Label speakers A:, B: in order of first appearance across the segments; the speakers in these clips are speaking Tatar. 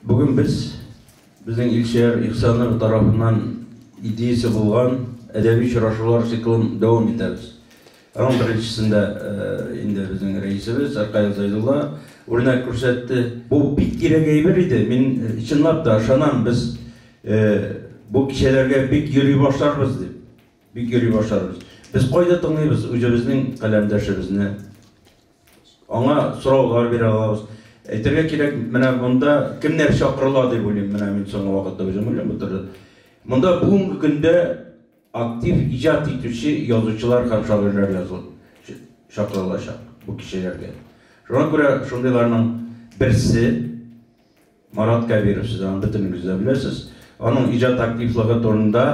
A: Бүген без, безнең Илшияр Ихсанов тарафыннан идеясе булган әдәби очрашулар циклын дәвам итәбез. Аның беренчесендә инде безнең рәисебез Аркаил Зайдулла үрнәк күрсәтте. Бу бик кирәк әйбер иде. Мин чынлап та ышанам, без бу кичәләргә бик йөри башларбыз дип. Бик йөри башларбыз. Без кайда тыңлыйбыз үзебезнең каләмдәшебезне? Аңа сораулар бирә алабыз. Әйтергә кирәк, менә монда кемнәр чакырыла дип уйлыйм, менә мин соңгы вакытта үзем уйлап утырдым. Монда бүгенге көндә актив иҗат итүче язучылар һәм шагыйрьләр языл чакырылачак бу кичәләргә. Шуңа күрә шундыйларның берсе Марат Кәбиров, сез аны бөтенегез дә беләсез. Аның иҗат активлыгы турында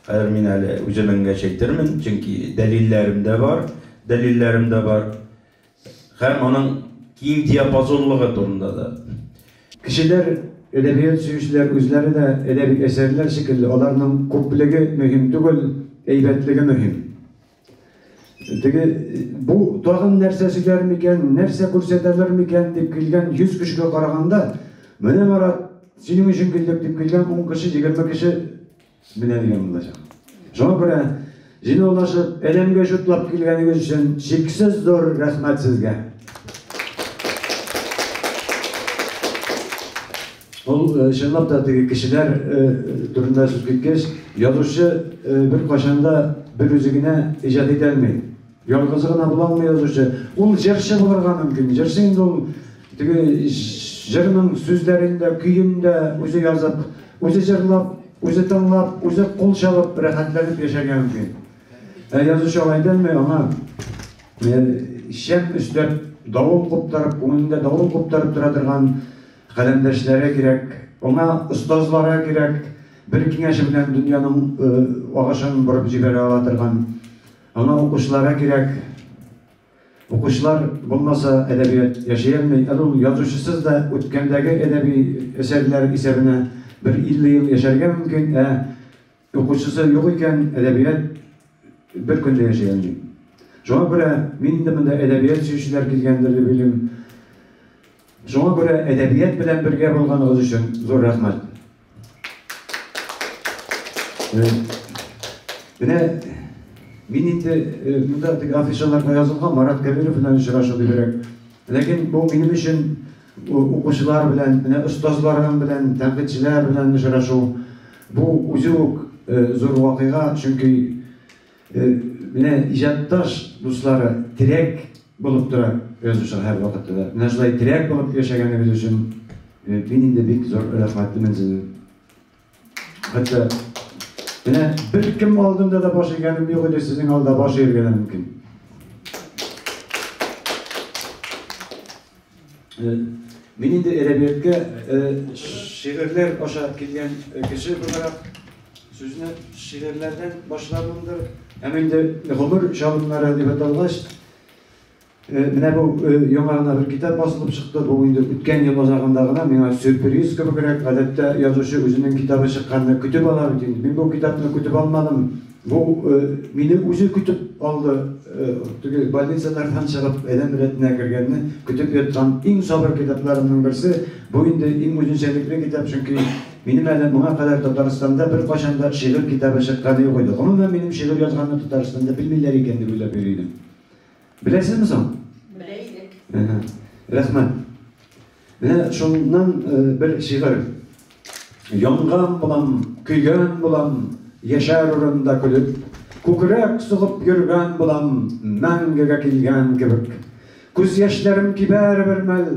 A: хәзер мин әле үзем энгәч әйтермен, чөнки дәлилләрем дә бар, дәлилләрем дә бар. Һәм аның киң диапазонлыгы турында да. Кешеләр, әдәбият сөючеләр үзләре дә әдәби әсәрләр шикелле, аларның күплеге мөһим түгел, әйбәтлеге мөһим. Теге бу тагын нәрсә сөйләр микән, нәрсә күрсәтәлер микән дип килгән 100 кешегә караганда, менә Марат, синең өчен килдек дип килгән 10 кеше, 20 кеше менә дигән булачак. Шуңа күрә җыйнаулашып, әлемгә җутлап килгәнегез өчен чиксез зур рәхмәт сезгә. Ул, чынлап та, теге кешеләр турында сүз киткәч, язучы беркайчан да бер үзе генә иҗат итә алмый. Ялгызы гына була алмый язучы. Ул җырчы булырга мөмкин. Җырчы инде ул теге җырның сүзләрен дә, көен дә үзе язып, үзе җырлап, үзе тыңлап, үзе кул чабып, рәхәтләнеп яшәргә мөмкин. Ә язучы алай итә алмый, аңа шәп өстәп, давыл куптарып, күңелендә давыл куптарып тора торган Каләмдәшләре кирәк, аңа остазлары кирәк, бер киңәше белән дөньяның агышын борып җибәрә ала торган, аңа укучылары кирәк. Укучылар булмаса, әдәбият яши алмый. Әле ул язучысыз да үткәндәге әдәби әсәрләр исәбенә бер 50 ел яшәргә мөмкин, ә. Укучысы юк икән, әдәбият бер көн дә яшәгән юк. Шуңа күрә мин инде монда әдәбият сөючеләр килгәндер дип уйлыйм. Шуңа күрә әдәбият белән бергә булганыгыз өчен зур рәхмәт. Э, менә мин инде э, монда теге афишаларга язылган Марат Кәбиров белән очрашу дибрәк. Ләкин бу минем өчен Укучылар белән, менә остазларың белән, тәнкыйтьчеләр белән очрашу, бу үзе үк зур вакыйга, чөнки менә иҗатташ дуслары терәк булып тора язучыга һәрвакытта да. Менә шулай терәк булып яшәгәнегез өчен мин инде бик зур рәхмәтлемен сезнең. Хәтта менә бер кем алдында да баш игәнем юк иде, сезнең алда баш игәргә мөмкин. Э, мин инде әдәбиятка э, шигырьләр аша килгән э, кеше буларак сүзне шигырьләрдән башлавымдыр. Һәм инде гомер чагымнары дип аталгач, Менә бу яңа гына бер китап басылып чыкты. Бу инде үткән ел азагында гына миңа сюрприз кебегрәк. Гадәттә, язучы үзенең китабы чыкканны көтеп ала бит инде. Мин бу китапны көтеп алмадым. Бу мине үзе көтеп алды. Теге больницалардан чыгып, адәм рәтенә кергәнне көтеп яткан иң сабыр китапларымның берсе. Бу инде иң үзенчәлекле китап, чөнки минем әле моңа кадәр Татарстанда беркайчан да шигырь китабы чыкканы юк иде. Гомумән, минем шигырь язганны Татарстанда белмиләр икән дип уйлап йөри идем. Беләсезме соң? Белә идек. Рәхмәт. Менә шуннан бер шигырь. Янган булам, көйгән булам, яшәр урында көлеп, күкрәк сугып йөргән булам, мәңгегә килгән кебек. Күз яшьләрем кибәр бер мәл,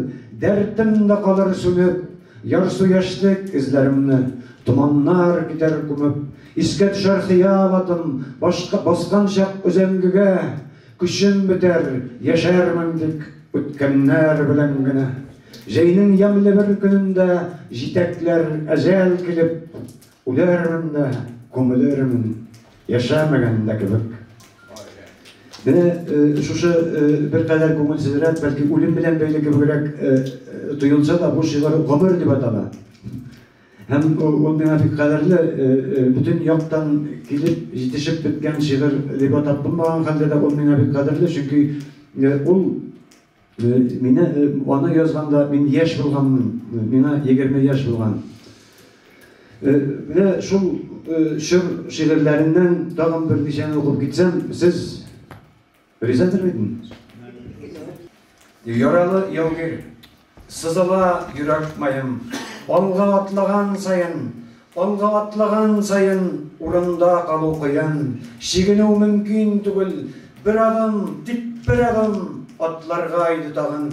A: дәртем дә калыр сүнеп, ярсу яшьлек эзләремне томаннар китәр күмеп. Искә төшәр хыял атым башка баскан чак өзәңгегә, Көчем бетәр, яшәрмен тик үткәннәр белән генә. Җәйнең ямьле бер көнендә җитәкләр әҗәл килеп, Үләрмен дә, күмелермен, яшәмәгән дә кебек. Менә шушы беркадәр күңелсезрәк, бәлки үлем белән бәйле кебегрәк тоелса да, бу шигырь гомер дип атала. Һәм ул миңа бик кадерле, бөтен яктан килеп җитешеп беткән шигырь дип атап булмаган хәлдә дә ул миңа бик кадерле, чөнки ул мине аны язганда мин яшь булганмын, миңа егерме яшь булган. Менә шул чор шигырьләреннән тагын берничәне укып китсәм, сез Ризадыр бит инде. Яралы яугир, сызыла йөрәк маем, Алга атлаган саен, алга атлаган саен, Урында калу кыен, чигенү мөмкин түгел, Бер адым, тик бер адым, атларга иде тагын.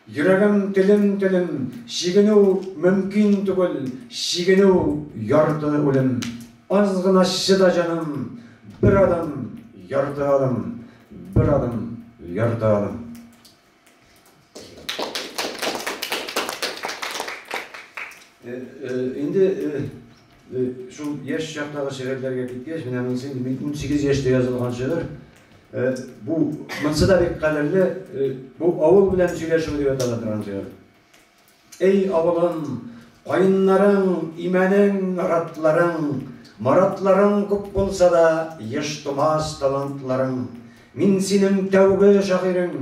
A: Йөрәгем телем-телем, чигенү мөмкин түгел, чигенү, ярты үлем. Аз гына чыда җаным, бер адым, ярты адым, бер адым, ярты адым. Инде Шул яшь чактагы шигырьләргә киткәч, менә монысы инде мин 18 яшьтә язылган шигырь. Бу монысы да бик кадерле, бу авыл белән сөйләшү дип атала торган шигырь. Эй авылым, каеннарың, имәнең, ратларың, маратларың күп булса да, еш тумас талантларың. Мин синең тәүге шагыйрең,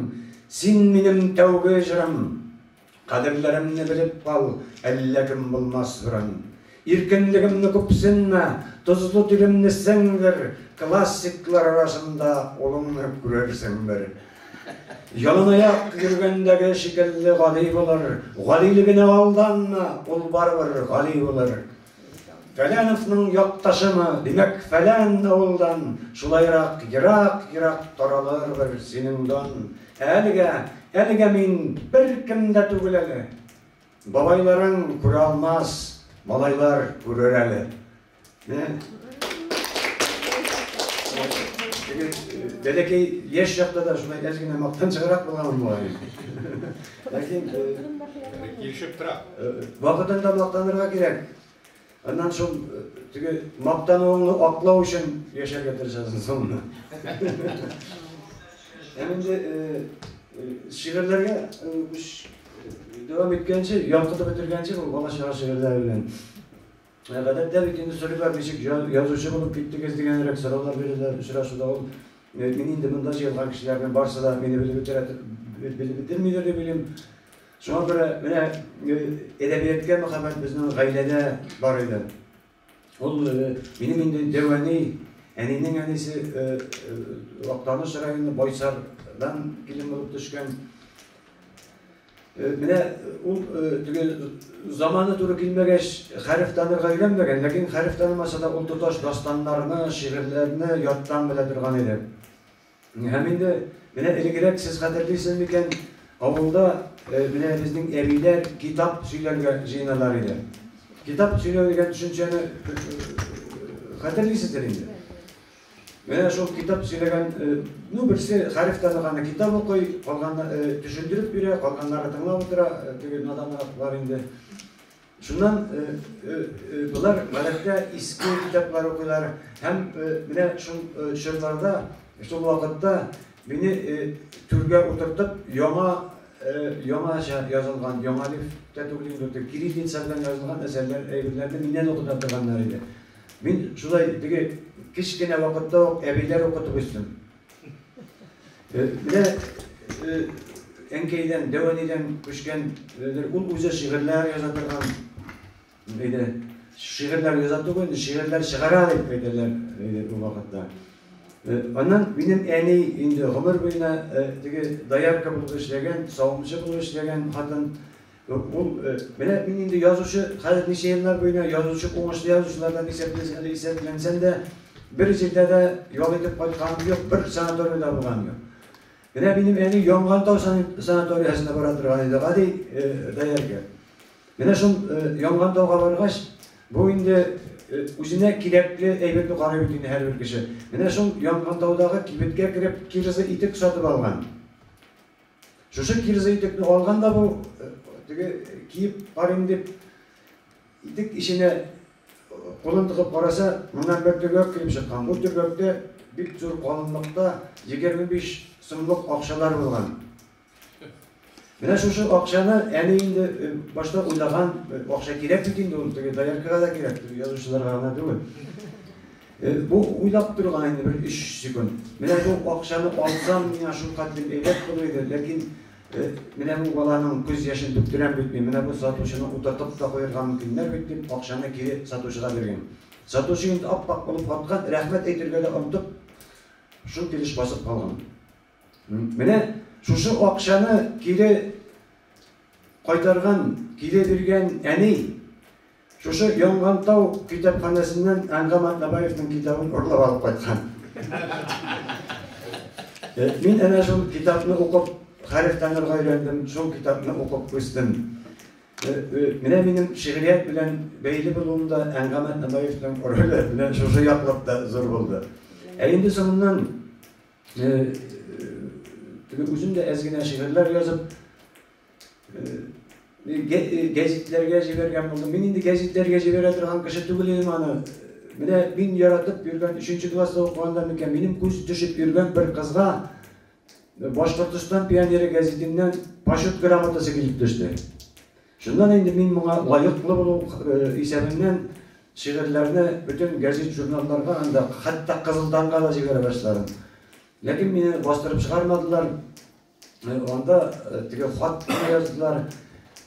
A: син минем тәүге җырым. Кадерләремне белеп кал, әллә кем булмас гөрән. Иркенлегемне күпсенмә, тозлы тилемне сеңдер, классиклар арасында улыңны күрерсең бер. Яланаяк йөргәндәге шикелле гади булыр, гадилегенә алданма, ул барыбер гади булыр. Фәләновның якташымы, димәк, фәлән авылдан, шулайрак ерак-ерак таралырбыр синең дан. Ә әлегә, әлегә мин беркем дә түгел әле. Бабайларың күрә алмас, малайлар күрер әле. Бәләкәй яшь чакта да шулай әз генә мактанчыграк булганмын бугай. Ләкин килешеп тора. Вакытында мактанырга кирәк. Аннан шул теге мактануыңны аклау өчен яшәргә тырышасың соңына. Һәм инде шигырьләргә дәвам иткәнче, янкытып бетергәнче бу бала чага шигырьләре белән Ә гадәттә бит инде сөрүләр ничек язучы булып киттегез дигәнрәк сораулар бирәләр очрашуда. Ул мин инде монда җыелган кешеләрнең барысы да мине белеп бетерә белеп бетермидер дип уйлыйм. Шуңа күрә менә әдәбияткә мәхәббәт безнең гаиләдә бар иде. Ул минем инде дәвәни әнинең әнисе Актаныш районы Байсардан килен булып төшкән. Менә ул теге заманы туры килмәгәч, хәреф танырга өйрәнмәгән, ләкин хәреф танымаса да ул тоташ дастаннарны, шигырьләрне яттан белә торган иде. Һәм инде менә элегрәк сез хәтерлисез микән, авылда менә безнең әбиләр китап сөйләргә җыеналар иде. Китап сөйләү дигән төшенчәне хәтерлисездер инде. Менә шул китап сөйләгән, ну берсе хәреф танырганы китап укый, калганы төшендереп бирә, калганнары тыңлап утыра, теге наданлыклар инде. Шуннан болар гадәттә иске китаплар укыйлар һәм менә шул чорларда, шул вакытта мине түргә утыртып, яңа яңача язылган, яңа лифтә түгел инде, кириллица белән язылган әсәрләр, әйберләрне миннән укыта торганнар иде. Мин шулай теге кечкенә вакытта ук әбиләр укытып үстем. Э, менә э, әнкәйдән, дәвәнидән күчкән, э, ул үзе шигырьләр яза торган. Әйдә, шигырьләр яза түгел, инде шигырьләр чыгара дип әйтәләр әйдә бу вакытта. Аннан минем әни инде гомер буена теге доярка булып эшләгән, савымчы булып эшләгән хатын Юк, бу менә мин инде язучы, хәзер ничә еллар буена язучы, уңышлы язучылардан исәплисең, әле исәпләнсәң дә, бер җирдә дә ял итеп кайтканым юк, бер санаториядә булганым юк. Менә минем әни Янгантау санаториясенә бара торган иде, гади даярга. Менә шул Янгантауга баргач, бу инде үзенә кирәкле әйберне карый бит инде һәрбер кеше. Менә шул Янгантаудагы кибеткә кереп, кирза итек сатып алган. Шушы кирза итекне алган да бу, теге киеп карыйм дип, итек ишенә кулын тыгып караса, моннан бер төргәк килеп чыккан. Бу төргәктә бик зур калынлыкта 25 сумлык акчалар булган. Менә шушы акчаны әни инде башта уйлаган, акча кирәк бит инде ул, теге дояркага да кирәк, язучыларга гына түгел. Бу уйлап торган инде бер 3 секунд. Менә бу акчаны алсам, миңа шул кадәр әйбәт булыр иде, ләкин менә бу баланың күз яшен түктерәм бит мин. Менә бу сатучыны утыртып та куярга мөмкиннәр бит дип, акчаны кире сатучыга биргән. Сатучы инде ап-ак булып каткан, рәхмәт әйтергә дә онтып, шул килеш басып калган. Менә шушы акчаны кире кайтарган, кире биргән әни шушы Янгантау китапханәсеннән Әнгам Атнабаевның китабын урлап алып кайткан. Э, мин әнә шул китапны укып, хәреф танырга өйрәндем, шул китапны укып үстем. Э, э, менә минем шигърият белән бәйле булуымда Әнгамәт Набаевның роле менә шушы яклыкта зур булды. Ә инде соңыннан Теге үзем дә әз генә шигырьләр язып, гәзитләргә җибәргән булдым. Мин инде гәзитләргә җибәрә торган кеше түгел идем аны. Менә мин яратып йөргән 3 класста укыганда микән, минем күз төшеп йөргән бер кызга Башкортстан пионеры гәзитеннән почет грамотасы килеп төште. Шуннан инде мин моңа лаеклы булу исәбеннән шигырьләрне бөтен гәзит-журналларга анда, хәтта Кызыл таңга да җибәрә башладым. Ләкин мине бастырып чыгармадылар. Анда теге хат кына яздылар.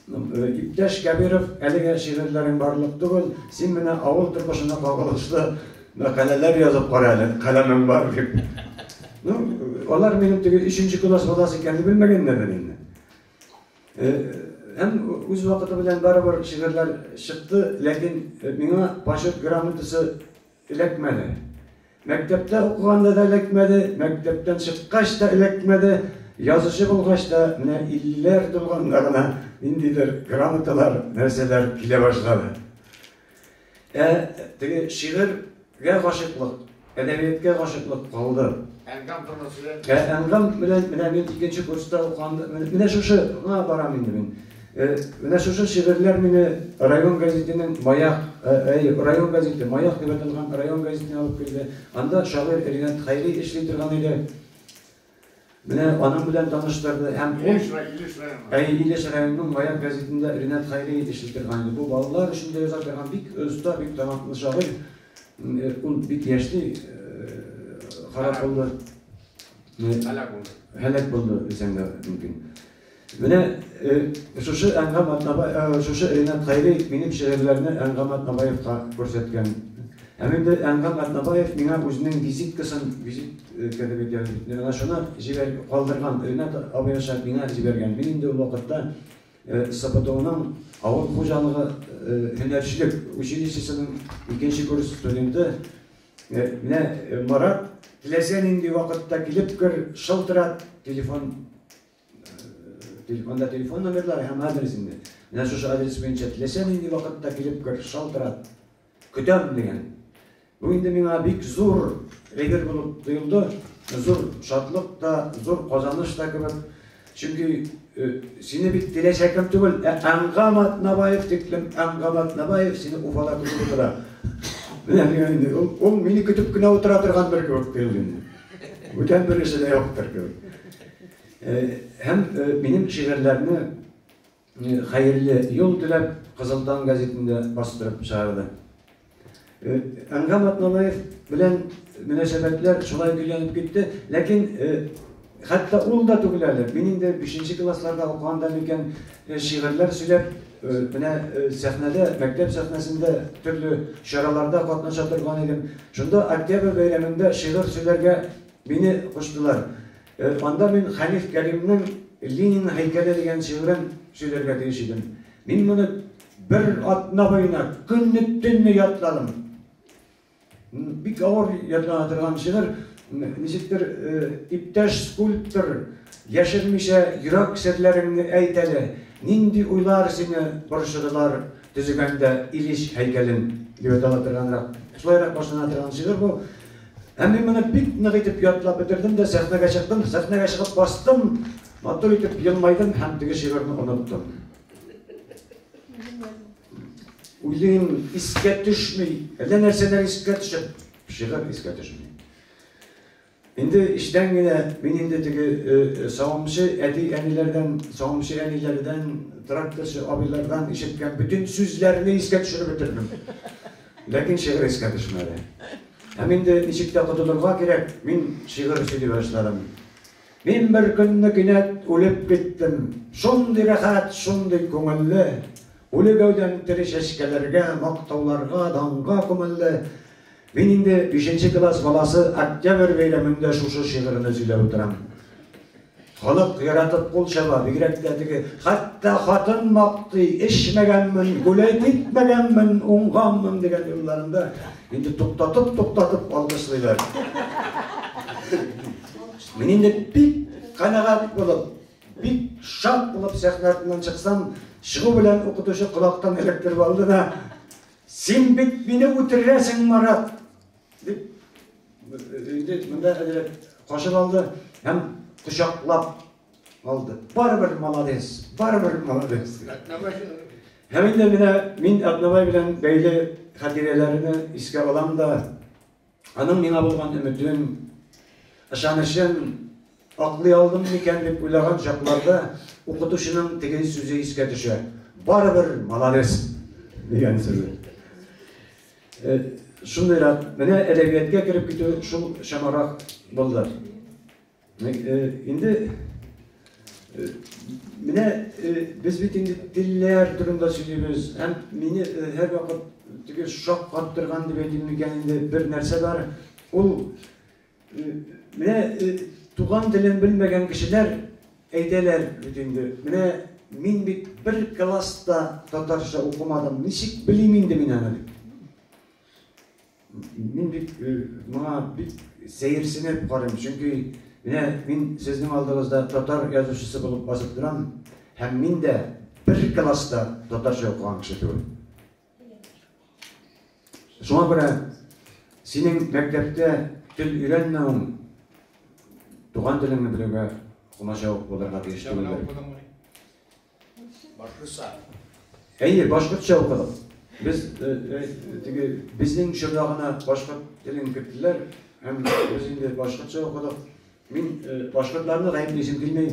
A: Иптәш Кәбиров, әлегә шигырьләрең барлык түгел, син менә авыл тормышына кагылышлы мәкаләләр язып кара әле, каләмең бар дип. Ну, алар минем теге өченче класс баласы икәнне белмәгәннәрдер инде. Һәм үз вакыты белән барыбер шигырьләр чыкты, ләкин миңа почет грамотасы эләкмәде. Мәктәптә укыганда да эләкмәде, мәктәптән чыккач та эләкмәде, язучы булгач та менә иллеләр тулганда гына ниндидер грамоталар, нәрсәләр килә башлады. Ә теге шигырь гә гашыйклык, әдәбияткә гашыйклык калды. Әнгам тормыш белән. Ә әнгам белән менә мин икенче курста укыган, менә шушы гына барам инде мин. Э, менә шушы шигырьләр мине район газетенең Маяк, э, әй, район газете, Маяк дип аталган район газетына алып килде. Анда шагыйрь Ринат Хәйри эшли торган иде. Менә аның белән таныштырды һәм ул Әйе, Илеш районының Маяк гәзитендә Ринат Хәйри эшли торган иде. Бу балалар өчен дә яза торган бик оста, бик талантлы шагыйрь. Ул бик яшьли харап булды. Һәлак булды. Һәлак булды дисәң дә мөмкин. Менә шушы Әнгам Атнабаев, шушы Ринат Хәйри минем шигырьләрне Әнгам Атнабаевка күрсәткән. Һәм инде Әнгам Атнабаев миңа үзенең визиткасын, визитка дип әйтәбез бит, менә шуны җибәр, калдырган, Ринат абый аша миңа җибәргән. Мин инде ул вакытта СПТУның авыл хуҗалыгы һөнәрчелек училищесының икенче курс студенты. Менә Марат, теләсә нинди вакытта килеп кер, шылтырат, телефон Анда телефон номерлары һәм адрес инде. Менә шушы адрес буенча теләсә нинди вакытта килеп кер, шалтырат. Көтәм дигән. Бу инде миңа бик зур әйбер булып тоелды. Зур шатлык та, зур казаныш та кебек. Чөнки э, сине бит теләсә кем түгел, ә Әнгам Атнабаев диклем, Әнгам Атнабаев сине Уфада көтеп утыра. Менә миңа инде ул, ул мине көтеп кенә утыра торган бер кебек тоелды инде. Бүтән бересе дә юктыр кебек. Һәм минем шигырьләрне Хәерле юл теләп, Кызыл таң гәзитендә бастырып чыгарды. Әнгам Атналаев белән мөнәсәбәтләр шулай көйләнеп китте, ләкин хәтта ул да түгел әле. Мин инде бишенче классларда укыганда микән, шигырьләр сөйләп, менә сәхнәдә, мәктәп сәхнәсендә төрле чараларда катнаша торган идем. Шунда Октябрь бәйрәмендә шигырь сөйләргә мине куштылар. Анда мин Хәниф Кәримнең Ленин һәйкәле дигән шигырен сөйләргә тиеш идем. Мин моны бер атна буена көнне-төнне ятладым. Бик авыр ятлана торган шигырь, ничектер иптәш скульптор яшермичә йөрәк серләреңне әйт әле, нинди уйлар сине борчыдылар төзегәндә Ильич һәйкәлен, дип атала торганрак, шулайрак башлана торган шигырь бу. Ә мин моны бик нык итеп ятлап бетердем дә сәхнәгә чыктым. Сәхнәгә чыгып бастым, матур итеп елмайдым һәм теге шигырьне оныттым. Уйлыйм, искә төшми, әллә нәрсәләр искә төшеп, шигырь искә төшми. Инде эчтән генә мин инде теге э, э, савымчы әти-әниләрдән, савымчы әниләрдән, тракторчы абыйлардан ишеткән бөтен сүзләрне искә төшереп бетердем. Ләкин шигырь искә төшмәде. Һәм инде ничек тә котылырга кирәк, мин шигырь сөйли башладым. Мин бер көнне кинәт үлеп киттем. Шундый рәхәт, шундый күңелле. Үле гәүдәм тере чәчкәләргә, мактауларга, данга күмелде. Мин инде бишенче класс баласы Октябрь бәйрәмендә шушы шигырьне сөйләп утырам. Халык яратып кул чаба, бигрәк тә теге, хәтта хатын мактый, эчмәгәнмен, гүләй китмәгәнмен, уңганмын дигән юлларында инде туктатып-туктатып алкышлыйлар. Мин инде бик канәгать булып, бик шат булып сәхнә артыннан чыксам, чыгу белән укытучы колактан эләктереп алды да, Син бит мине үтерәсең, Марат! Дип, инде монда әдәләп кашып алды һәм кочаклап алды. Барыбер молодец, барыбер молодец. Һәм инде менә мин Әтнабай белән бәйле хатирәләрне искә алам да, аның миңа булган өметен, ышанычын аклый алдым микән дип уйлаган чакларда укытучының теге сүзе искә төшә. Барыбер молодец дигән сүзе. Шундый рәт, менә әдәбияткә кереп китү шул чамарак булды. Инде менә без бит инде телләр турында сөйлибез, һәм мине һәрвакыт теге шаккаттырган дип әйтим микән инде бер нәрсә бар, ул Менә туган телен белмәгән кешеләр әйтәләр бит инде, менә мин бит бер класс та татарча укымадым, ничек белим инде мин аны дип. Мин бик моңа бик сәерсенеп карыйм, чөнки менә мин сезнең алдыгызда татар язучысы булып басып торам, һәм мин дә бер класс та татарча укыган кеше түгел. Шуңа күрә синең мәктәптә тел өйрәнмәвең туган телеңне белүгә комачау булырга тиеш түгелдер. Башкортса. Әйе, башкортча укыдым. Без э, э, теге безнең чорда гына башкорт телен керттеләр һәм без инде башкортча укыдык. Мин э, башкортларны гаеплисем килми.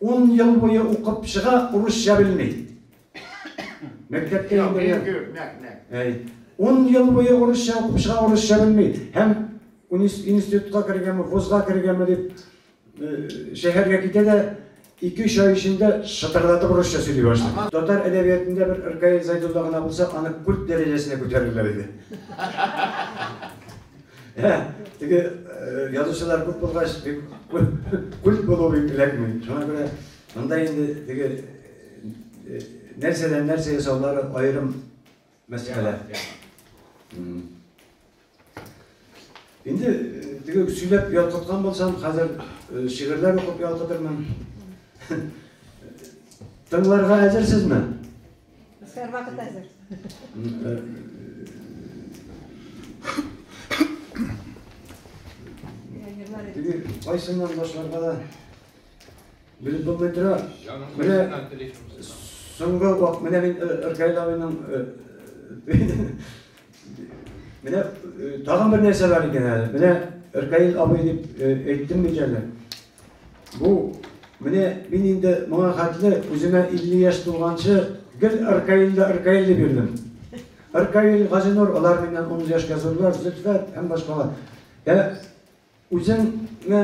A: Ун ел буе укып чыга, урысча белми. Мәктәптә инде. Ун ел буе урысча укып чыга, урысча белми. Һәм институтка кергәнме, вузга кергәнме дип э, шәһәргә китә дә, ике-өч ай эчендә шытырдатып урысча сөйли башлый. Татар әдәбиятында бер Ркаил Зайдулла гына булса, аны культ дәрәҗәсенә күтәрерләр иде. Ә, теге язучылар күп булгач, күп булу эләкми. Шуңа күрә монда инде теге нәрсәдән нәрсә ясаулары аерым мәсьәлә. Инде теге сөйләп ялкыткан булсам, хәзер шигырьләр укып ялкытырмын. Тыңларга әзерсезме? Һәрвакыт әзер. Кайсыннан башларга да белеп булмый тора. Менә соңгы вакыт менә мин Иркайлавының менә тагын бер нәрсә бар икән әле. Менә Иркаил абый дип әйттем бит әле. Бу, менә мин инде моңа хәтле үземә 50 яшь тулганчы гел Аркаилда Аркаил дип йөрдем. Аркаил, Газинур, алар миннән 10 яшькә зурлар, Зөлфәт һәм башкалар. Ә үзеңә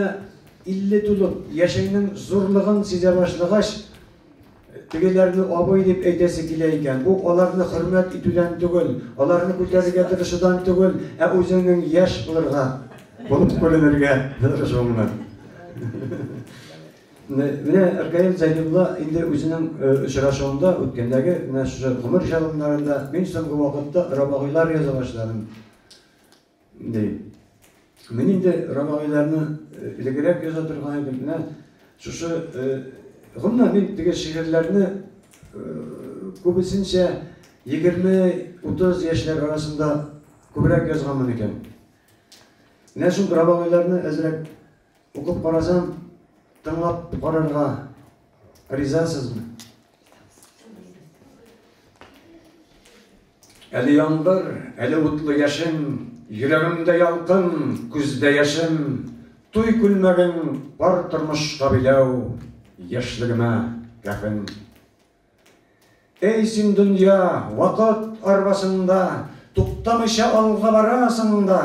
A: 50 тулып, яшеңнең зурлыгын сизә башлагач, Тегеләрне абый дип әйтәсе килә икән, бу аларны хөрмәт итүдән түгел, аларны күтәрергә тырышудан түгел, ә үзеңнең яшь булырга, булып күренергә тырышуыңнан. Менә Ркаил Зәйнулла инде үзенең очрашуында, үткәндәге менә шушы гомер җылымнарында, мин соңгы вакытта Рабагыйлар яза башладым. Ди. Мин инде романнарны э, элегрәк яза торган идем. Менә шушы э, гомумән мин теге шигырьләрне э, күбесенчә 20-30 яшьләр арасында күбрәк язганмын икән. Менә шул романнарны әзрәк укып карасам, тыңлап карарга ризасызмы? Әле яңгыр, әле утлы яшен, Йөрәгемдә ялкын, күздә яшем, Туй күлмәген пар тормышка биләү, Яшьлегемә кәфен. Әй син дөнья, вакыт арбасында, Туктамыйча алга барасың да,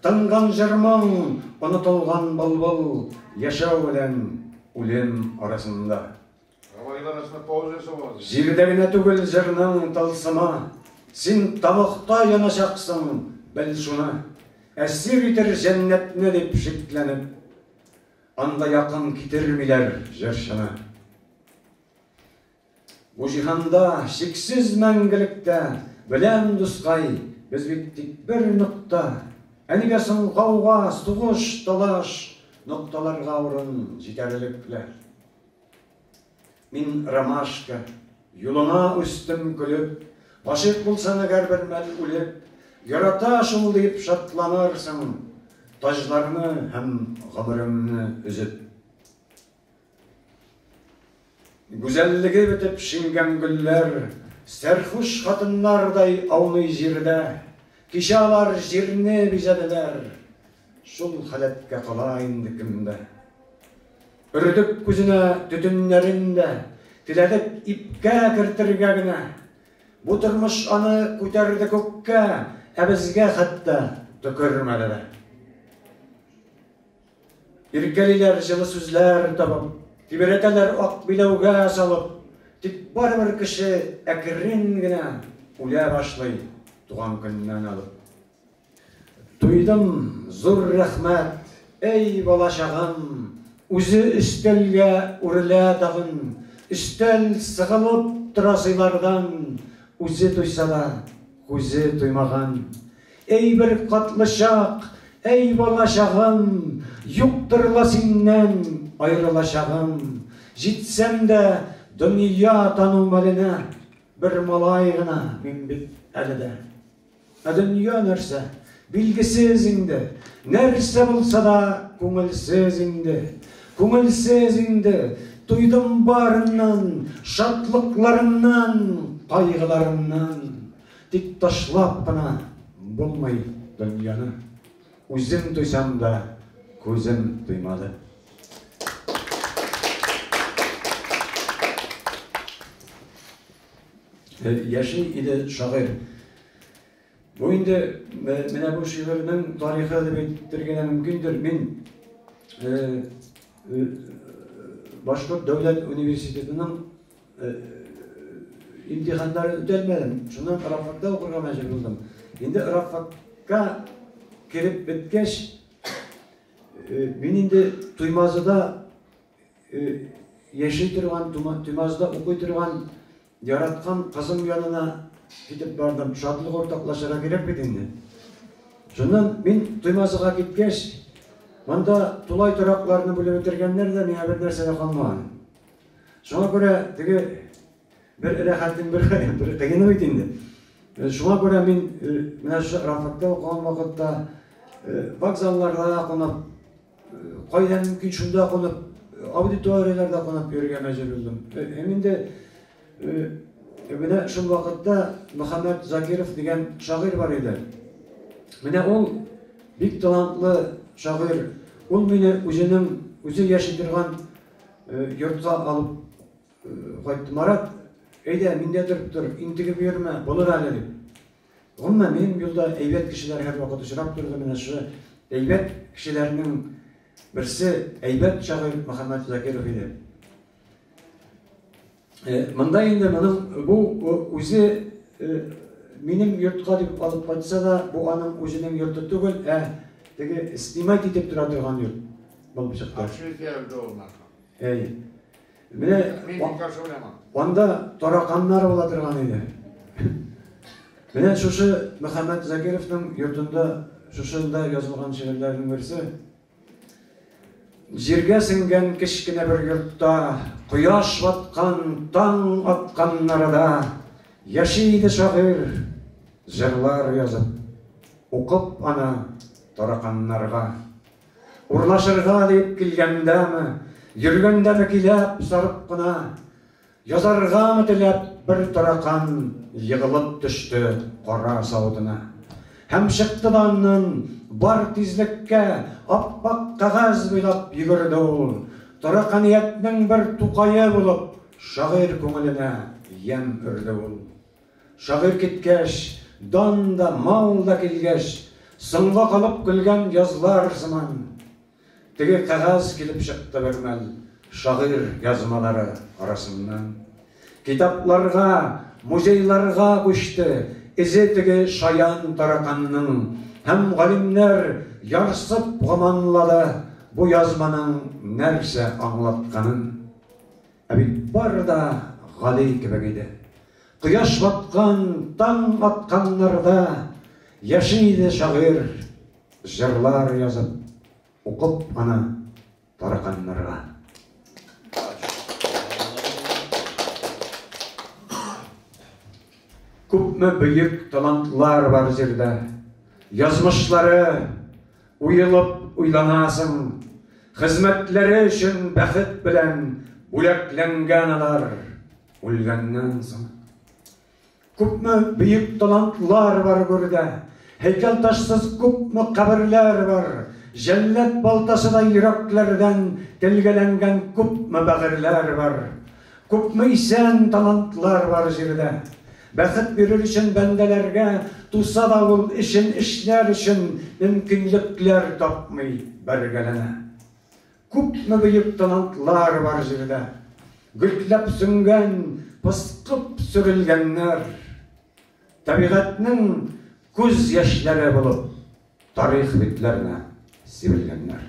A: Тынган җырмың, онытылган былбыл, Яшәү белән үлем арасында. Җирдә генә түгел җырның тылсымы, Син тамакта яначаксың, бел шуны, Әсир итер җәннәтне дип шикләнеп, Анда якын китермиләр җырчыны. Бу җиһанда чиксез мәңгелектә, Беләм, дускай, без бит тик бер нокта, Ә нигә соң гауга, сугыш, талаш, Нокталарга урын җитәрлек лә? Мин ромашка, юлыңа үстем көлеп, Гашыйк булсаң әгәр бер мәл үлеп, Ярата шул дип шатланарсың, Таҗларны һәм гомереңне өзеп. Гүзәллеге бетеп шиңгән гөлләр, Сәрхуш хатыннардай ауный җирдә, Кичә алар җирне бизәделәр, Шул халәткә кала инде кемдә. Өрдек күзенә төтеннәрен дә теләдек ипкә кертергә генә. Бу тормыш аны күтәрде күккә, ә безгә хәтта төкермәде дә. Иркәлиләр җылы сүзләр табып, тибрәтәләр ак биләүгә салып, тик барыбер кеше әкрен генә үлә башлый туган көннән алып. Туйдым, зур рәхмәт! Әй, бала чагам! Үзе өстәлгә үрелә тагын, өстәл сыгылып тора сыйлардан, үзе туйса да, күзе туймаган. Әй, бер катлычак! Әй, бала чагым! Юктыр ла синнән аерылачагым! Җитсәм дә дөнья тану мәленә, бер малай гына мин бит әле дә. Ә дөнья нәрсә? Билгесез инде. Нәрсә булса да күңелсез инде. Күңелсез инде. Туйдым барыннан, шатлыкларымнан, кайгыларымнан. Тик ташлап кына булмый дөньяны. Үзем туйсам да, күзем туймады. Яши иде шагыйрь. Бу инде менә бу шигырьнең тарихы дип әйтергә мөмкиндер. Мин Башкорт дәүләт университетының имтиханнарын үтәлмәдем. Шуннан Рафатта укырга мәҗбүр булдым. Инде Рафатка кереп беткәч, мин инде Туймазыда яши торган, Тумазда укый торган яраткан кызым янына китеп бардым. Шатлык уртаклашырга кирәк бит инде. Шуннан мин Тумазга киткәч, монда тулай торакларны бүлеп бетергәннәр дә, миңа бер нәрсә дә калмаган. Шуңа күрә теге бер рәхәтем, бер, бер кыены бит инде. Э, шуңа күрә мин э, менә шушы Рафатта укыган вакытта э, вокзалларда кунып, Кайда мөмкин шунда кунып, аудиторияләрдә кунып йөрергә мәҗбүр булдым. Һәм инде менә шул вакытта Мөхәммәт Закиров дигән шагыйрь бар иде. Менә ул бик талантлы шагыйрь. Ул мине үзенең үзе яши торган йортка алып кайтты. Марат, әйдә, миндә торып тор, интегеп йөрмә, булыр әле дип. Гомумән, минем юлда әйбәт кешеләр һәрвакыт очрап торды. Менә шушы әйбәт кешеләрнең берсе әйбәт шагыйрь Мөхәммәт Закиров иде. Э, монда инде моның бу э, үзе э, минем йортка дип алып кайтса да, бу аның үзенең йорты түгел, ә теге снимать итеп тора торган йорт булып чыкты. Әй. Менә анда тараканнар була торган иде. Менә шушы Мөхәммәт Закировның йортында шушында язылган шигырьләрнең берсе. Җиргә сеңгән кечкенә бер йортта, кояш баткан, таң атканнары да яши иде шагыйрь, җырлар язып, укып аны тараканнарга. Урлашырга дип килгәндәме, йөргәндәме киләп, сарып кына, язаргамы теләп, бер таракан егылып төште кара савытына. Һәм чыкты да аннан, бар тизлеккә, ап-ак кәгазь буйлап йөгерде ул, тараканиятнең бер тукае булып, шагыйрь күңеленә ямь өрде ул. Шагыйрь киткәч, дан да, мал да килгәч, Соңга калып көлгән язлар сыман. Теге кәгазь килеп чыкты бермәл Шагыйрь язмалары арасыннан. Китапларга, музейларга күчте эзе Теге шаян тараканның һәм галимнәр Ярсып гоманлады бу язманың нәрсә аңлатканын. Ә бит бары да гади кебек иде. Кояш баткан, таң атканнарда яши иде шагыйрь, җырлар язып, укып аны тараканнарга. Күпме бөек талантлар бар җирдә, язмышлары, Уелып уйланасың, хезмәтләре өчен бәхет белән бүләкләнгән алар үлгәннән соң. Күпме бөек талантлар бар гөрдә, һәйкәлташсыз күпме каберләр бар, җәлләт балтасыдай йөрәкләрдән телгәләнгән күпме бәгырьләр бар. Күпме исән талантлар бар җирдә. Бәхет бирер өчен бәндәләргә туса да ул эшен эшләр өчен мөмкинлекләр тапмый бәргәләнә. Күпме бөек талантлар бар җирдә. Гөлтләп сүнгән, пыскып сөрелгәннәр. Табигатьнең күз яшьләре булып. Тарих битләренә сибелгәннәр.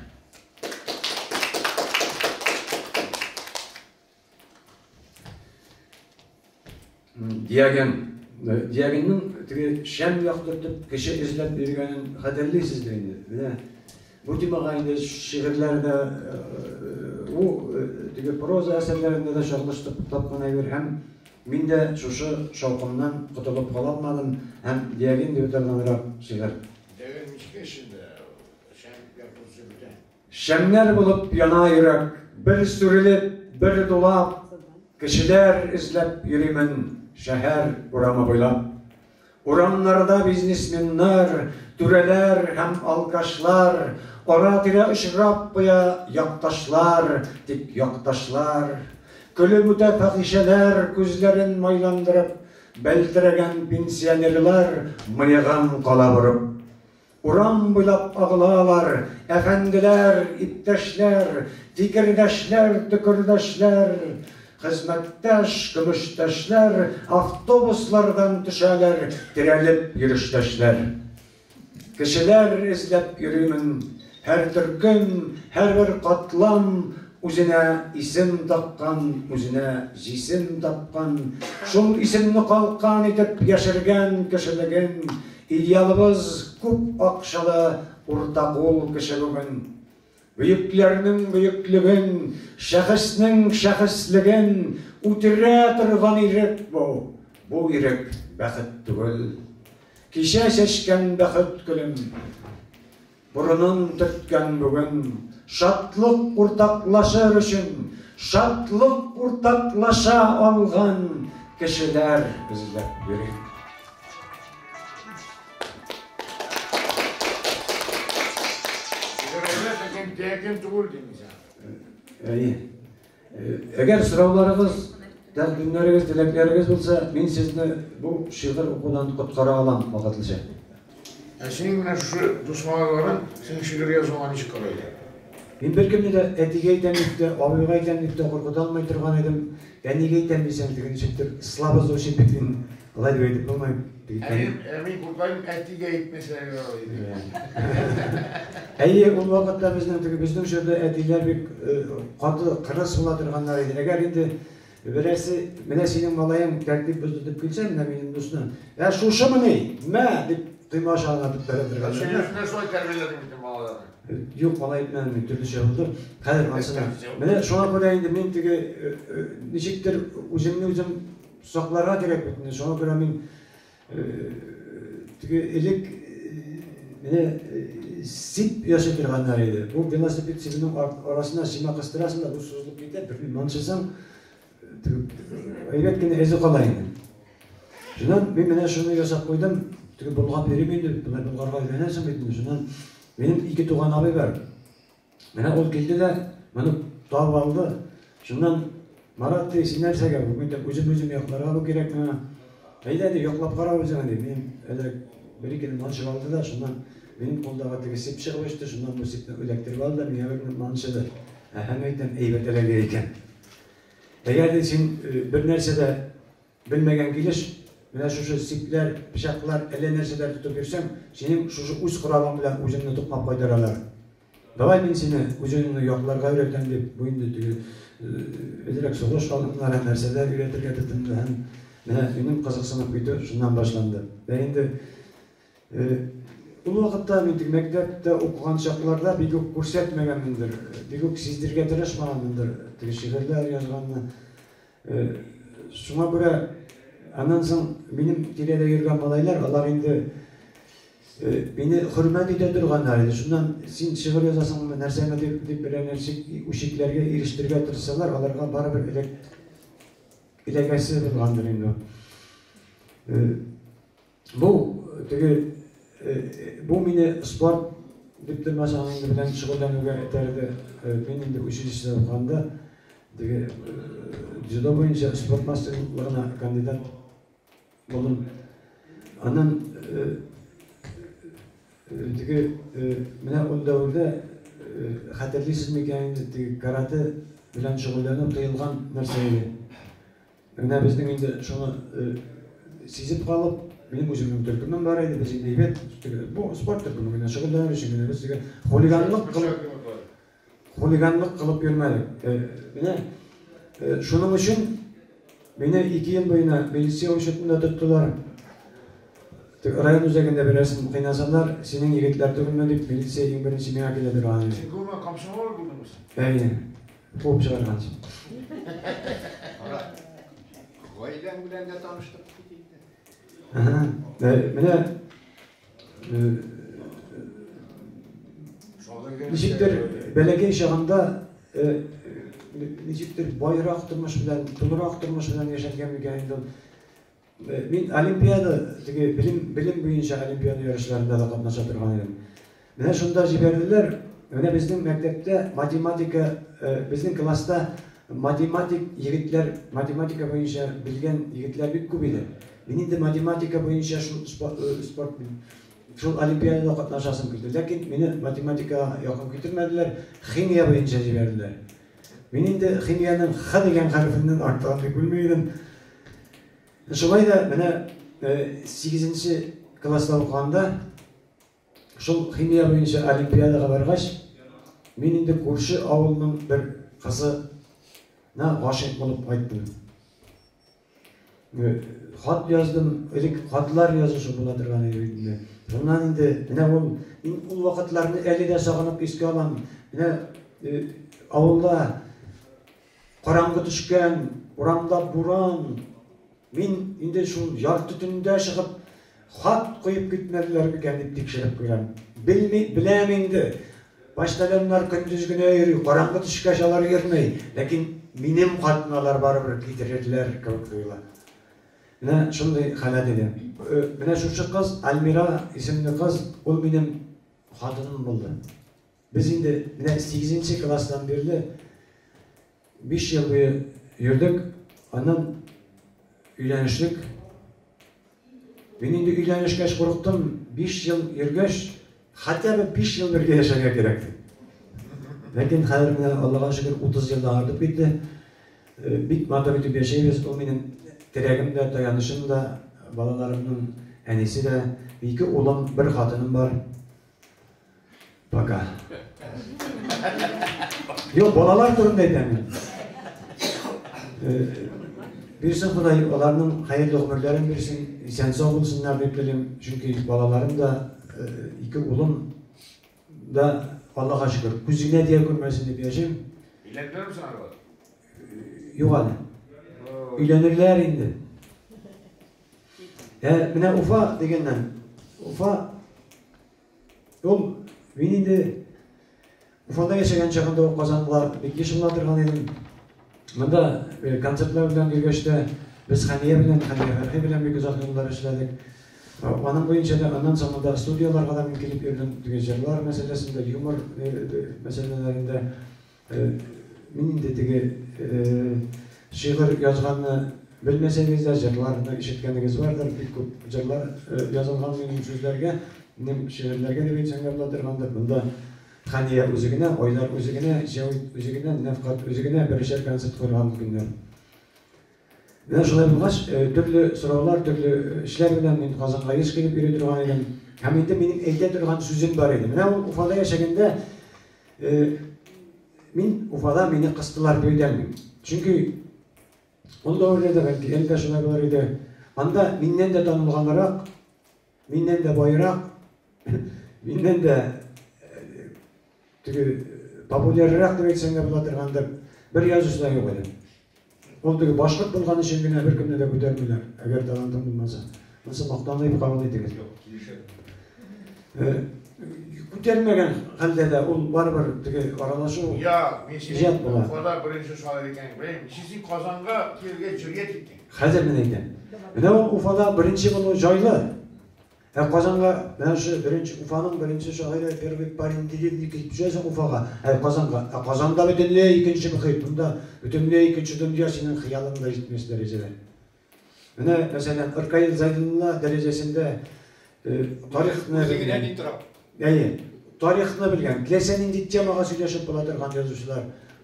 A: Диаген, Диагенның теге шәм яктыртып кеше эзләп йөргәнен хәтерлисез дә инде. Менә бу темага инде шигырьләрдә бу теге проза әсәрләрендә дә чагылыштырып тапкан әйбер һәм Мин дә шушы шаукымнан котылып кала алмадым һәм диагин дип утырганрак шигырь. Диагин мичкә эчендә, шәмнәр кузып бетә. Шәмнәр булып яна йөрәк. Бер сүрелеп, бер дулап, кешеләр эзләп йөримен шәһәр урамы буйлап. Урамнарда бизнесменнар, түрәләр һәм алкашлар, ара-тирә очрап куя якташлар, тик якташлар. Көлеп үтә фәхишәләр, күзләрен майландырып, бәлтерәгән пенсионерлар мыегын кала борып. Урам буйлап агылалар, әфәнделәр, иптәшләр, фикердәшләр, төкердәшләр, хезмәттәш, көмештәшләр, автобуслардан төшәләр, терәлеп йөрештәшләр. Кешеләр эзләп йөримен, һәр төркем, һәрбер катлам үзенә исем таккан, үзенә җисем тапкан, шул исемне калкан итеп яшергән кешелеген, Идеалыбыз күп акчалы урта кул кеше бүген. Бөекләрнең бөеклеген, шәхеснең шәхеслеген үтерә торган ирек бу. Бу ирек бәхет түгел. Кичә чәчкән бәхет гөлем. Борынын төрткән бүген шатлык уртаклашыр өчен шатлык уртаклаша алган кешеләр эзләп йөри. Сигаретлар дигән тәкин түгел димисең. Әйе. Әгәр сорауларыгыз, тәкъдимнәрегез, теләкләрегез булса, мин сезне бу шигырь укудан коткара алам вакытлыча. Ә синең менә шушы дус малайларың синең шигырь язуыңа ничек карайлар? Мин беркемне дә әтигә әйтәм дип тә, абыйга әйтәм дип тә куркыта алмый торган идем. Әнигә әйтәм дисәң, теге ничектер слабо звучит бит, мин алай дип әйтеп булмый. Ә мин куркайм, әтигә әйтмәсә ярар иде. Әйе, ул вакытта безнең теге безнең җирдә әтиләр бик каты кырыс була торганнар иде. Әгәр инде берәрсе, менә синең малаең тәртип бозды дип килсә, менә минем дусны, ә шушымыни, мә, дип койма аша гына бетерә торган. Син үзеңә шулай тәрбияләдең бит балаларны. Юк, алай итмәдем мин, төрлечә булды. Хәзер ансына. Менә шуңа күрә инде мин теге ничектер үземне үзем Сакларга кирәк бит инде, шуңа күрә мин теге элек менә сип ясый торганнар иде. Бу велосипед сибенең арасына чыма кыстырасың да бу сузылып китә, берни манчысаң теге әйбәт кенә эзе кала инде. Шуннан мин менә шуны ясап куйдым, теге болгап йөрим инде, болай болгарга өйрәнәсең бит инде, шуннан минем ике туган абый бар. Менә ул килде дә моны табып алды. Шуннан Марат ди, син нәрсәгә бу? Мин дип, үзем-үзем якларга бу кирәк миңа. Әйдә ди, яклап кара үзеңә ди. Мин әзрәк бер-ике дән манчып алды да, шуннан минем кулдагы теге сип чыгып очты, шуннан бу сипне эләктереп алды да, миңа бер манчыды. Әһә, әйтәм, әйбәт эләгә икән. Әгәр ди син бер нәрсә дә Белмәгән килеш, менә шушы сипләр, пычаклар, әллә нәрсәләр тотып йөрсәң, синең шушы үз коралың белән үзеңне тукмап кайтаралар. Давай мин сине үзеңне якларга өйрәтәм дип, бу инде теге бедрәк сугыш алымнары нәрсәләр өйрәтергә тотынды һәм менә минем кызыксынып китү шуннан башланды. Ә инде Ул вакытта мин тик мәктәптә укыган чакларда бик үк күрсәтмәгәнмендер, бик үк сиздергә тырышмаганмындыр теге шигырьләр язганны. Шуңа күрә аннан соң минем тирәдә йөргән малайлар, алар инде мине хөрмәт итә торганнар иде. Шуннан син шигырь язасыңмы, нәрсәме дип берәр нәрсә үчекләргә ирештерергә тырышсалар, аларга барыбер эләгәсе булгандыр инде ул. Бу теге бу мине спорт дип тормаса инде белән шөгыльләнүгә этәрде. Мин инде училищеда укганда теге дзюдо буенча спорт мастерлыгына кандидат булдым. Аннан теге менә ул дәвердә хәтерлисез микән инде теге карате белән шөгыльләнү тыелган нәрсә иде. Менә безнең инде шуны сизеп калып, минем үземнең төркемем бар иде, без инде әйбәт бу спорт төркеме генә шөгыльләнер өчен генә без теге хулиганлык кылып хулиганлык кылып йөрмәдек. Менә шуның өчен мине 2 ел буена милиция учетында тоттылар. Район үзәгендә берәрсен кыйнасаннар, синең егетләр түгелме дип, милиция иң беренче миңа килә биргән иде. Син гомумән комсомол булдыңмы син? Әйе. Куып чыгарган өчен. Кара. Гаиләң белән дә таныштык бит инде. Әһә. Менә Ничектер бәләкәй чагында ничектер байрак тормыш белән, тулырак тормыш белән яшәткән микән инде ул. Мин олимпиада, теге белем, белем буенча олимпиада ярышларында да катнаша торган идем. Менә шунда җибәрделәр. Менә безнең мәктәптә математика, безнең класста математик егетләр, математика буенча белгән егетләр бик күп иде. Мин инде математика буенча шул спорт шул олимпиадада катнашасым килде. Ләкин мине математикага якын китермәделәр, химия буенча җибәрделәр. Мин инде химиянең Х дигән хәрефеннән артык аңлый белми идем. Шулай да менә сигезенче класста укыганда шул химия буенча олимпиадага баргач, мин инде күрше авылның бер кызына гашыйк булып кайттым. Хат яздым, элек хатлар язышы була торган иде бит инде. Шуннан инде менә ул мин ул вакытларны әле дә сагынып искә алам. Менә авылда караңгы төшкән, урамда буран. Мин инде шул ярты төндә чыгып Хат куеп китмәделәр микән дип тикшереп куям. Белми, беләм инде. Почтальоннар көндез генә йөри, караңгы төшкәч алар йөрми. Ләкин минем хатны алар барыбер китерерләр кебек тоела. Менә шундый халәт иде. Менә шушы кыз, Альмира исемле кыз, ул минем хатыным булды. Без инде менә сигезенче класстан бирле биш ел буе йөрдек, аннан өйләнештек. Мин инде өйләнешкәч курыктым, биш ел йөргәч, хотя бы биш ел бергә яшәргә кирәк дип. Ләкин хәзер менә Аллага шөкер 30 елдан артып китте. Э, бик матур итеп яшәйбез, ул минем терәгем дә, таянычым да, балаларымның әнисе дә. Ике улым, бер хатыным бар. Пока. Йо, балалар турында әйтәм мин. Бирсен Ходай аларның хәерле гомерләрен бирсен, исән сау булсыннар дип телим, чөнки балаларым да ике улым да Аллаһка шөкер, күзенә дия күрмәсен дип яшим. Өйләндерәм соң алар. Юк әле. Өйләнерләр инде. Ә менә Уфа дигәннән, Уфа Ул, мин инде Уфада яшәгән чагында ук казанлылар бик еш була торган идем. Монда э, концертлар белән йөргәч тә без Хәния белән, Хәния Фәрхи белән бик озак еллар эшләдек. Э, аның буенча да аннан соң монда студияләргә дә мин килеп йөрдем, теге җырлар мәсьәләсендә, юмор э, мәсьәләләрендә. Мин инде теге шигырь язганны белмәсәгез дә, җырларны ишеткәнегез бардыр, бик күп җырлар язылган минем сүзләргә, минем шигырьләргә дип әйтсәң дә була торгандыр. Монда Хәния үзе генә, Айдар үзе генә, Җәвит үзе генә, Нәфкать үзе генә берешәр концерт куерган микәннәр. Менә шулай булгач, төрле сораулар, төрле эшләр белән мин Казанга еш килеп йөри торган идем. Һәм инде минем әйтә торган сүзем бар иде. Менә ул Уфада яшәгәндә мин Уфада мине кыстылар бирдән. Чөнки ул дәверләрдә, бәлки, әле дә шулай булыр иде, анда миннән дә танылганрак Миннән дә байрак, миннән дә теге популяррак дип әйтсәң дә була торган да бер язучы да юк әле. Ул теге башкорт булган өчен генә беркемне дә күтәрмиләр, әгәр талантың булмаса. Монысы мактанып кабул итегез. Юк, килешәм. Күтәрмәгән хәлдә дә ул барыбер теге аралашу иҗат була. Кала беренче шагыйрь икәнен беләм. Ничек син Казанга килергә җиргә киттең? Хәзер мин әйтәм. Менә ул Уфада беренче булу җайлы. Ә Казанга менә шу беренче Уфаның беренче шагыйре первый парень деревни килеп төшәсең Уфага, ә Казанга. Ә Казанда бөтенләй икенче мөхит, монда бөтенләй икенче дөнья, синең хыялың да җитмәс дәрәҗәдә. Менә, мәсәлән, Ркаил Зәйдуллина дәрәҗәсендә Тарихны белгән, әйе, тарихны белгән, теләсә нинди темага сөйләшеп була торган язучылар,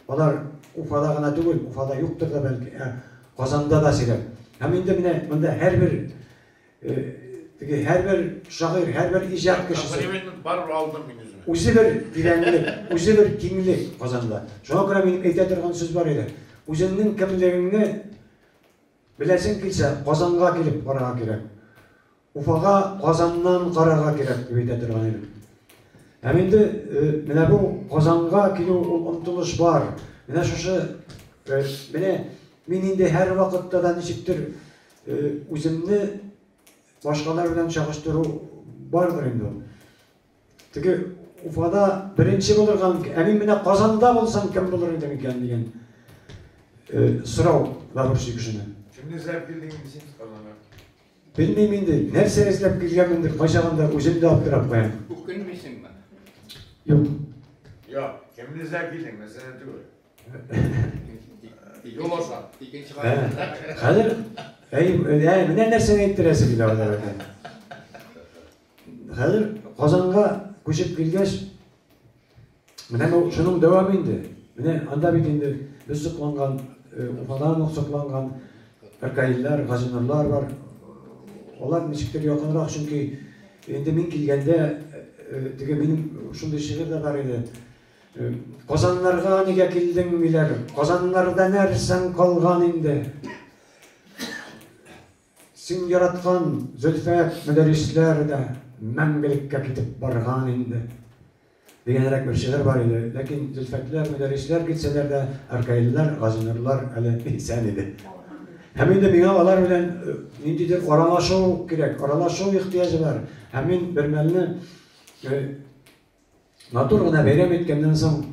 A: алар Уфада гына түгел, Уфада юктыр да бәлки, ә Казанда да сирәк. Һәм инде менә монда һәрбер, теге һәрбер шагыйрь, һәрбер иҗат кешесе, үзе бер тирәнлек, үзе бер киңлек Казанда. Шуңа күрә минем әйтә торган сүз бар иде, үзеңнең кемлегеңне беләсең килсә, Казанга килеп карарга кирәк. Уфага Казаннан Гарага кирәк дип әйтә торган идем. Һәм инде менә бу Казанга килү ул омтылыш бар. Менә шушы менә мин инде һәр вакытта да ничектер үземне башкалар белән чагыштыру бардыр инде. Теге Уфада беренче булырга мөмкин. Ә мин менә Казанда булсам, кем булыр идем икән дигән сорау да борчый кешене. Кемне эзләп килдең инде син Казанга? Белмим инде, нәрсә эзләп килгәнмендер, кайчагында үзем дә аптырап куям. Үкенмисеңме? Юк. Юк, кемне эзләп килдең, мәсьәлә түгел. Юл аша. Икенче кат. Хәзер әй, әй, менә нәрсәне әйттерәсе килә алар икән. Хәзер Казанга күчеп килгәч, менә бу шуның дәвамы инде. Менә анда бит инде без сокланган, э, Уфадан ук сокланган Ракаиллар, Газинурлар бар. Алар ничектер якынрак, чөнки инде мин килгәндә э, э, теге минем шундый шигырь дә бар иде. Э, Казаннарга нигә килдең диләр. Казаннарда нәрсәң калган инде? Син яраткан Зөлфә Мөдәррисләр дә мәңгелеккә китеп барган инде, дигәнрәк бер шигырь бар иде. Ләкин Зөлфәтләр, Мөдәррисләр китсәләр дә, Ркаилләр, Газинурлар әле исән иде. Һәм инде миңа алар белән ниндидер аралашу кирәк, аралашу ихтыяҗы бар. Һәм мин бермәлне матур гына бәйрәм иткәннән соң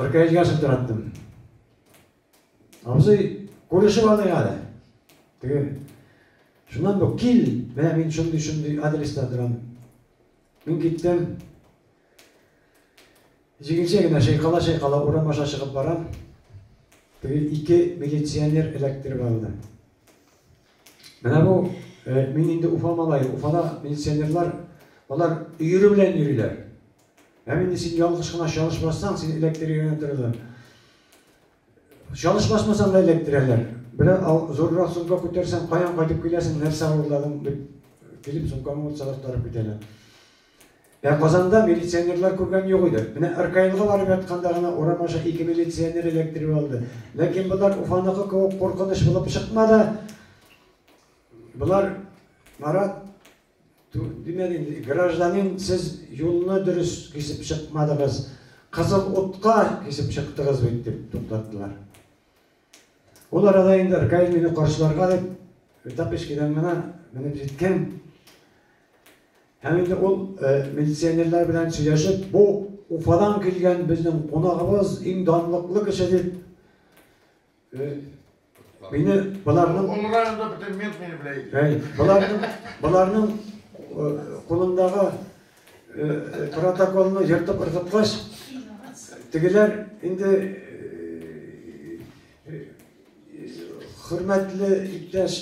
A: Ркаилгә шылтыраттым. Абзый, күрешеп алыйк әле. Теге Шуннан бу кил, менә мин шундый-шундый адреста торам. Мин киттем. Җиңелчә генә шайкала-шайкала урам аша чыгып барам. Теге ике милиционер эләктереп алды. Менә бу э, мин инде Уфа малае. Уфада милиционерлар алар өере белән йөриләр. Ә инде син ялгыш кына чалышмасаң, син эләктерергә торалар. Чалыш басмасаң да эләктерәләр. Берәр зуррак сумка күтәрсәң, каян кайтып киләсең, нәрсә урладың дип килеп сумканы урт салып тарып китәләр. Ә Казанда милиционерлар күргән юк иде. Менә РКЛга барып ятканда гына урам аша ике милиционер эләктереп алды. Ләкин болар Уфаныкы кебек куркыныч булып чыкмады. Болар Марат Димәк инде, гражданин, сез юлны дөрес кисеп чыкмадыгыз, кызыл утка кисеп чыктыгыз бит, дип туктаттылар. Ул арада инде РКИ мине каршыларга дип Тапочкидан гына менеп җиткән. Һәм инде ул милиционерлар белән сөйләшеп, бу Уфадан килгән безнең кунагыбыз, иң данлыклы кеше дип Мине боларның Олранда бөтен мент мине белә иде. Әй, боларның боларның кулындагы протоколны ертып ыргыткач, тегеләр инде хөрмәтле иптәш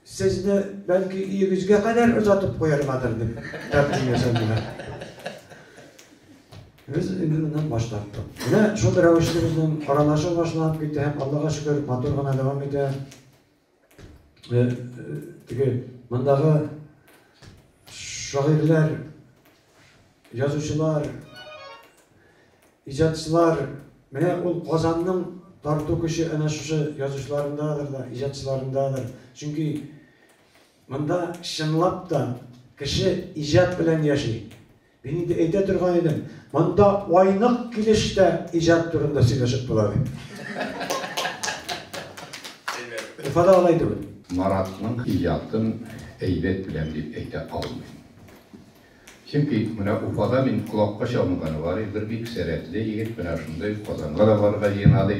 A: Сезне, бәлки, өегезгә кадәр озатып куяргадыр, дип тәкъдим ясадылар. Без инде моннан баш тарттык. Менә шул рәвешле безнең аралашу башланып китте һәм Аллага шөкер, матур гына дәвам итә. Э, э, теге мондагы шагыйрьләр, язучылар, Иҗатчылар, менә ул Казанның тарту көче әнә шушы язучыларындадыр да, иҗатчыларындадыр. Чөнки монда чынлап та кеше иҗат белән яши. Мин инде әйтә торган идем, монда айнык килеш тә иҗат турында сөйләшеп була дип. Уфада алай түгел. Маратның иҗатын әйбәт беләм дип әйтә алмыйм. Чөнки менә Уфада мин колакка чалынганы бар иде, бер бик сәләтле егет менә шундый ук Казанга да барырга җыена, ди.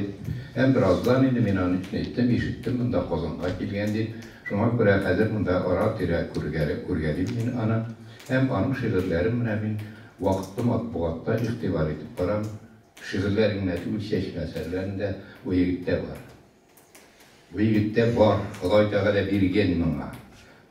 A: Һәм бераздан инде мин аны киңәйттем, ишеттем, монда Казанга килгән, дип. Шуңа күрә хәзер монда ара-тирә күргәле, күргәлим мин аны. Һәм аның шигырьләрен менә мин вакытлы матбугатта игътибар итеп барам. Шигырьләре генә түгел, чәчмә әсәрләрендә бу егет тә бар. Бу егеттә бар, Ходай Тәгалә биргән моңа.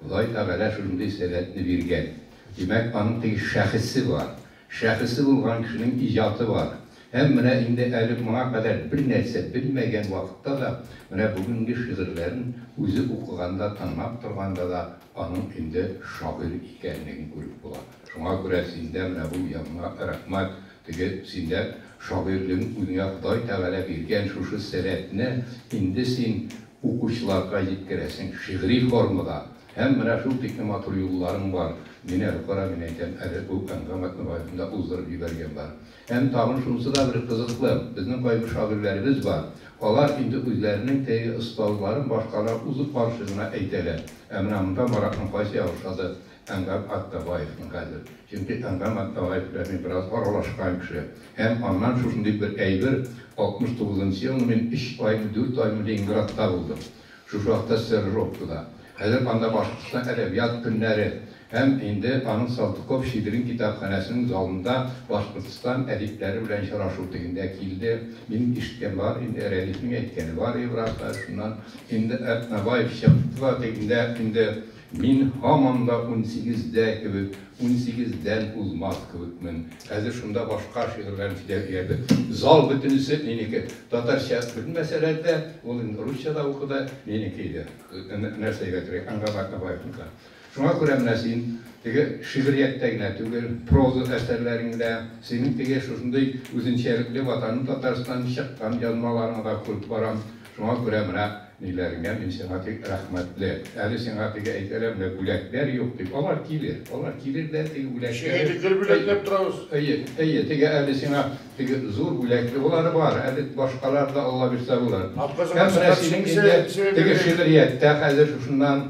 A: Ходай Тәгалә шундый сәләтне биргән. Димәк, аның теге шәхесе бар. Шәхесе булган кешенең иҗаты бар. Һәм менә инде әле моңа кадәр бернәрсә белмәгән вакытта да, менә бүгенге шигырьләрен үзе укыганда, тыңлап торганда да аның инде шагыйрь икәнлеген күреп була. Шуңа күрә синдә менә бу яңа рәхмәт Теге Зиннәт шагыйрьнең үзеңә Ходай Тәгалә биргән шушы сәләтне инде син укучыларга җиткерәсең шигъри формада. Һәм менә шул тикле матур юлларың бар. Мин әле кара, мин әйтәм, әле бу Әнгам Әтнабаевны да уздырып җибәргән бар. Һәм тагын шунысы да бер кызыклы, безнең кайбер шагыйрьләребез бар, алар инде үзләренең теге остазларын башкалар узып барчы гына әйтәләр. Ә менә монда Маратның кайсы ягы ошады, Әнгам Аттабаевны хәзер. Чөнки Әнгам Аттабаев белән мин бераз аралашкан кеше. Һәм аннан шушы дип бер әйбер, 69 нчы елны мин өч аймы, дүрт аймы Ленинградта булдым. Шушы вакытта стажировкада. Хәзер анда Башкортстан әдәбият көннәре һәм инде аның Салтыков-Щедрин китапханәсенең залында Башкортстан әдипләре белән очрашу дигәндә килде. Минем ишеткән бар инде, Рәдифнең әйткәне бар иде бераз хәзер шуннан. Инде Атнабаев чыкты да дигәндә инде. Мин һаман да унсигездә кебек, унсигездән узмас кебекмен. Хәзер шунда башка шигырьләрне сөйләп җибәрдем. Зал бөтенесе минеке. Татарча белмәсәләр дә, ул инде русча да укыды, минеке иде. Нәрсәгә кирәк, Әнгам Атнабаевныкы. Шуңа күрә менә син теге шигърияттә генә түгел, проза әсәрләреңдә, синең теге шушындый үзенчәлекле Ватаным Татарстан чыккан язмаларыңны да күреп барам. Шуңа күрә менә ниләреңә мин сиңа тик рәхмәтле. Әле сиңа теге әйтәләр, менә бүләкләр юк дип. Алар килер, алар килер дә теге бүләкләре. Сиңа инде гел бүләкләп торабыз. Әйе, әйе, теге әле сиңа теге зур бүләкле болары бар, әле башкалар да Аллабирса булыр. Һәм менә синең инде теге шигърияттә хәзер шушыннан.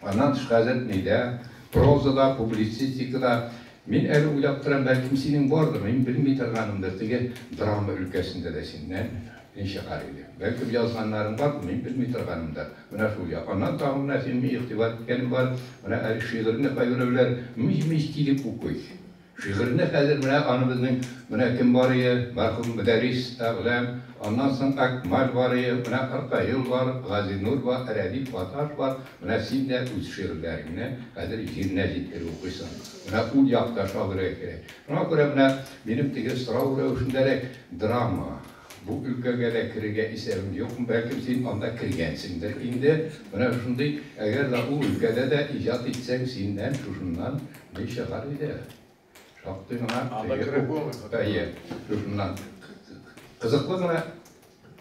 A: Аннан тыш газетныйда, прозада, публицистикада мин әле уйлап торам, бәлкем синең бардыр, мин белми торганымдыр, теге драма өлкәсендә дә син нәм не чыгар иде. Бәлкем язганнарың бардыр, мин белми торганымдыр. Менә шул як. Аннан тагын менә синең игътибар иткәнең бар, менә әле шигырьне кайберәүләр мыҗ-мыҗ килеп укый. Шигырьне хәзер менә аны безнең менә кем барые, мәрхүм Мөдәррис Әгъләм, аннан соң Әкмаль барые, менә Ркаил бар, Газинур ба, Рәдиф Гаташ бар, менә син дә үз шигырьләреңне хәзер җиренә җиткереп укыйсың. Менә ул як та шагыйрьгә керә. Шуңа күрә менә минем теге сорау рәвешендәрәк, драма, бу өлкәгә дә керергә исәбең юкмы? Бәлкем син анда кергәнсеңдер инде? Менә шундый, әгәр дә ул өлкәдә дә иҗат итсәң, синнән шушыннан Ни чыгар иде? Шактый гына әйе, шушыннан кызыклы гына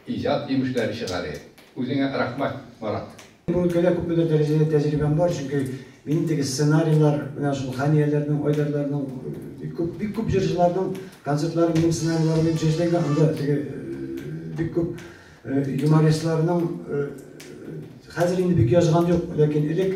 A: иҗат җимешләре чыгар иде. Үзеңә рәхмәт, Марат. Бу өлкәдә күпмедер дәрәҗәдә тәҗрибәм бар, чөнки минем теге сценарийлар, менә шул Хәнияләрнең, Айдарларның, бик күп, бик күп җырчыларның концертлары минем сценарийларым буенча эшләнгән, анда теге бик күп юмористларның хәзер инде бик язган юк, ләкин элек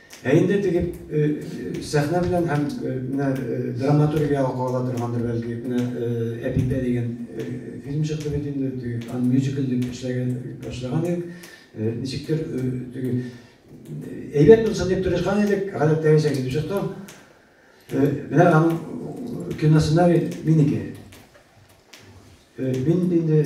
A: Ә инде теге сәхнә белән һәм менә драматургиягә кагыла торгандыр бәлки, менә Әпипә дигән фильм чыкты бит инде, теге ан мюзикл дип эшләгән башлаган идек. Ничектер теге әйбәт булсын дип тырышкан идек, гадәттәгечә китеп чыкты. Менә аның киносценарий минеке. Мин инде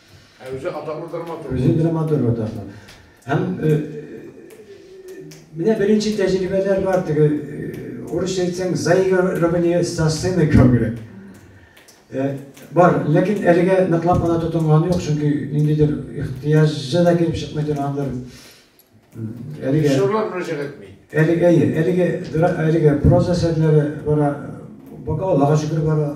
A: Ә үзе атаклы драматург. Үзе драматург атаклы. Һәм менә беренче тәҗрибәләр бар теге урысча әйтсәң заигрывание со сцены кебегрәк. Бар, ләкин әлегә ныклап кына тотынганы юк, чөнки ниндидер ихтыяҗы да килеп чыкмый торгандыр. Әлеге шурлар мөрәҗәгать итми. Әлеге әйе, әлеге әлеге проза әсәрләре бара, бака Аллага шөкер бара.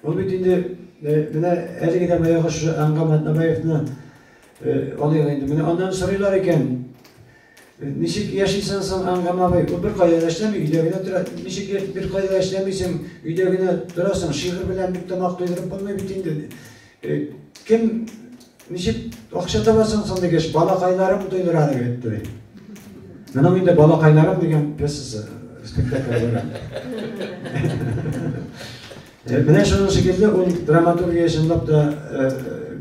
A: Ул бит инде менә әлеге дә баягы шушы Аңгам Атнабаевны алыйк инде. Менә аннан сорыйлар икән. Ничек яшисең соң Аңгам абый? Ул бер кайда да эшләми, өйдә генә тора. Ничек бер кайда да эшләмисең, өйдә генә торасың? Шигырь белән бит тамак туйдырып булмый бит инде. Кем, ничек акча табасың соң, дигәч, балакайларым туйдыра, дип әйтте. Моның инде балакайларым дигән пьесасы спектакль була. Менә шуның шикелле ул драматургия чынлап та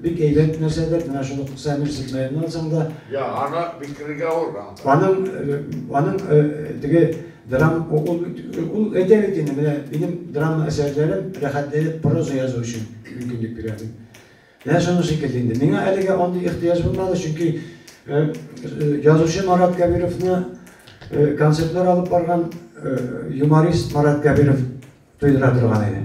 A: бик әйбәт нәрсәдер, менә шул Сәмир Сидмәйнен алсаң да. Я, аны бикергә авыр. Аның, аның теге Драм ул ул бит ул әйтә бит инде, менә минем драма әсәрләрем рәхәтләнеп проза язу өчен мөмкинлек бирә дип. Менә шуның шикелле инде. Миңа әлегә андый ихтыяҗ булмады, чөнки язучы Марат Кәбировны концертлар алып барган юморист Марат Кәбиров туйдыра торган иде.